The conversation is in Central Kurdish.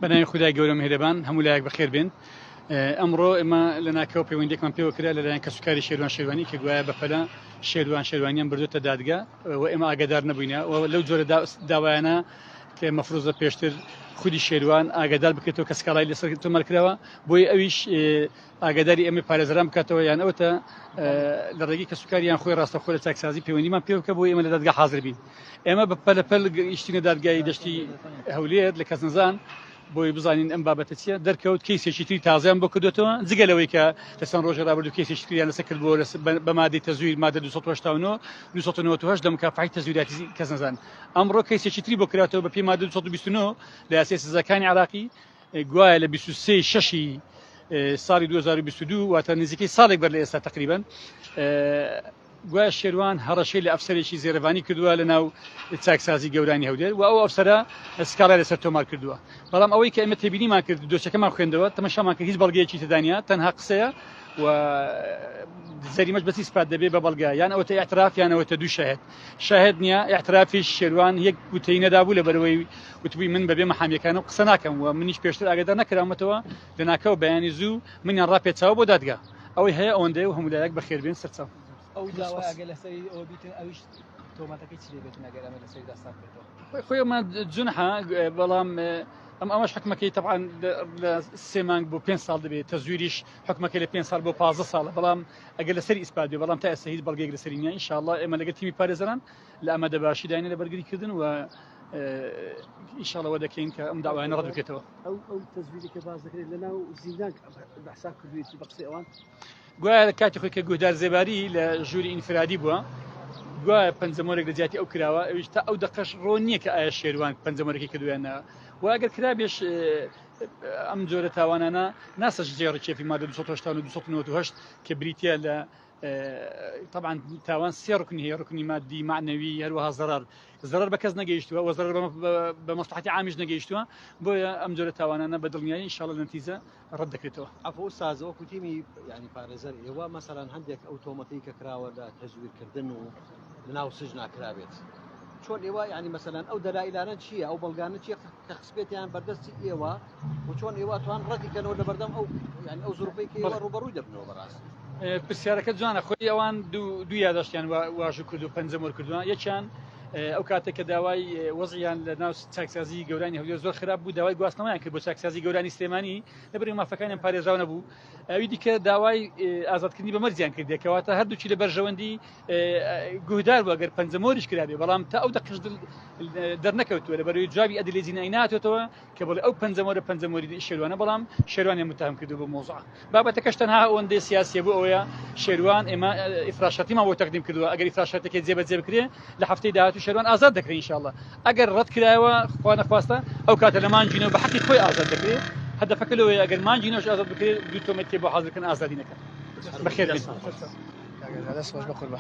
بەناوی خدای گەورە مهرەبان هەموو لایەک بەخێر بێن ئەمڕۆ ئێمە لە ناکەوە پەیوەندێکمان پێوە کرا لەلایەن کەسوکاری شێروان شێوانی کە گوایە بەپەلە شێروان شێوانیان بردوتە دادگا و ئێمە ئاگدار نەبووینە لەو جۆرە داوایانە کە مەفروزە پێشتر خودی شێروان ئاگدار بکرێتەوە کە سکاڵای لەسەر تۆمەرکراوە بۆی ئەویش ئاگاداری ئەمەی پارێزەران بکاتەوە یان ئەوتە لە ڕێگەی کەسوکار یان خۆی ڕاستەخۆ لە چاکسازی پەیوەندیمان پێ بکە بۆ ئێمە لە دادگا حاضر بین ئێمە بە پەلەپەل گەیشتینە دادگای دەشتی هەولێر لە کەس نەزان بۆی بزانین ئەم بابەتە چیە دەرکەوت کەیسێکی تری تازیان بۆ کردوێتەوە جگە لەوەی کە لە چەند ڕۆژە ڕابردو کەیسێکی تریان لەسە کرد بۆ بە مادەی تەزویر مادە 1970 لەم کافحی تەزویراتی کەس نەزان ئەمڕۆ کەیسێکی تری بۆ کراتەوە بە پێی مادە 1920 لە یاسی سزاکانی عراقی گوایە لە بیست و سێ ی شەشی ساڵی دوو هەزار و بیست و دوو واتە نزیکەی ساڵێک بەر لە ئێستا تەقریبەن گوایە شێروان هەڕەشەی لە ئەفسەرێکی زێرەڤانی کردووە لە ناو چاکسازی گەورانی هەولێر و ئەو ئەفسەرە سکاڵای لەسەر تۆمار کردووە بەڵام ئەوەی کە ئێمە تێبینیمان کرد دۆچەکەمان خوێندەوە تەمەشامان کرد هیچ بەڵگەیەکی تدانیا تەنها قسەیە و زەریمەش بەسی سپات دەبێ بە بەڵگە یان ئەوەتە اعتراف یانەوەتە دوو شەهێت شاهێد نیە، ئیعترافی شێروان یەک گوتەی نەدابوو لەبەرئەوەی وتبووی من بەبێ مەحامیەکانم قسە ناکەم و منیش پێشتر ئاگادار نەکراومەتەوە لەناکاو بەیانی زوو منیان ڕاپێچاوە بۆ دادگا ئەوەی هەیە ئەوەندەیە و هەموو لایەک بەخێربێن سەرچاو. ئەو داوای ئەگەر لەسەری ئەوە بیتن ئەویش تۆمەتەکەی چی لێ بێتن ئەگەر ئەمە لەسەری داستان بێتەوە خۆی خۆی ئەمە جونحا بەڵام ئەم ئەمەش حکومەکەی تەعاان لە سێ مانگ بۆ پێ ساڵ دەبێت تەزویریش حکومەکە لە پێ سال بۆ پازە ساڵە بەڵام ئەگەر لەسەری ئیسپات بێ بەڵام تا ئێستا هیچ بەڵگەیەک لەسەری نییە ئینشاءاللە ئێمە لەگەڵ تیمی پارێزەران لە ئامادەباشیداینە لە بەرگریکردن و ئیشاڵەوە دەکەین کە ئەم داوایانە ڕەت بکرێتەوە ئەو ئەو تەزویری کە باز دەکرێت لە ناو زیندان بەحساب کردوێتی بە قسەی ئەوان گوایە لە کاتی خۆی کە گوهدار زێباری لە ژووری ئینفرادی بووە گوایە پەنجەمۆرێک لە جیاتی ئەو کراوە ئەویش تا ئەو دەقەش ڕۆ نییە کە ئایا شێوان پەنجەمەرەکەی کردوێنە واگەر کرابێش ئەم جۆرە تاوانانە ناسەش جێ ڕکێفی مادە 1970 کە بریتە لە طبعا تاوان سێ ڕکن هەیە ڕکنی مادی معنەوی هەروەها زەرەر زەرەر بە کەس نەگەیشتووە وە زەرەر بە مەسلحاتی عامیش نەگەیشتووە بۆیە ئەم جۆرە تاوانانە بە دڵنیایی انشاءالله نەتیجە ڕەت دەکرێتەوە ئەفۆ سازەوە کوتیمی ینی پارێزەر ئێوە مەسەران هەندێک ئەو تۆمەتی کە کراوە لە تەزویرکردن و لەناو سجنا کرابێت چۆن ئێوە ینی مەسەلاەن ئەو دەلایلانە چییە ئەو بەڵگانە چی کە خسپێتیان بەردەستی ئێوە و چۆن ئێوە توان ڕەتیکەنەوە لە بەردەم ئەو ینی ئەو زروپی کە ئێوە ڕوبەڕووی دەبنەوە بەڕاست پرسیارەکە جوانە خۆی ئەوان دوو یاداشتیان واژ و کرد و پەنجەم وەرکردووان یەکیان ئەو کاتێک کە داوای وەزیان لە ناو چاکسازی گەورانی هەولێر زۆر خراپ بوو داوای گواستنەوەیان کرد بۆ چاکسازی گەورانی سلێمانی لەبری مافەکانیان پارێزراو نەبوو ئەوی دیکە داوای ئازادکردنی بە مەرزیان کردێکەوە تا هەردووچی لە بەرژەوەندی گوهدار بوو گەر پەنجە مۆریش کرابێ بەڵام تا ئەو دەقش دەرنەکەوتووە لە بەروی جوابی ئەدلی جینای ناتێتەوە کە بڵێ ئەو پەنجەمۆرە پەنجەمۆری شێوانە بەڵام شێوانێ متهم کردو بۆ مۆزع بابەتەکەش تەنها ئەوەندەی سیاسیە بۆ ئەوەیە شێوان ئێمە ئیفراشەتیمان بۆ تەقدیم کردووە ئەگەر ئیفراشەتەکە جێبەجێ بکرێ لە هەفتەی داهاتوو شێوان ئازاد دەکرێن انشاءالله ئەگەر ڕەت کرایەوە خوانە خواستە ئەو کاتە لەمان جینە بە حەقی خۆی ئازاد دەکرێت هەدەفەکە لەوەیە ئەگەر مان جینەش ئازاد بکرێت دوو تۆمەتی بۆ حاضرکن ئازادینەکە بەخێر دەست خۆش بە قوربان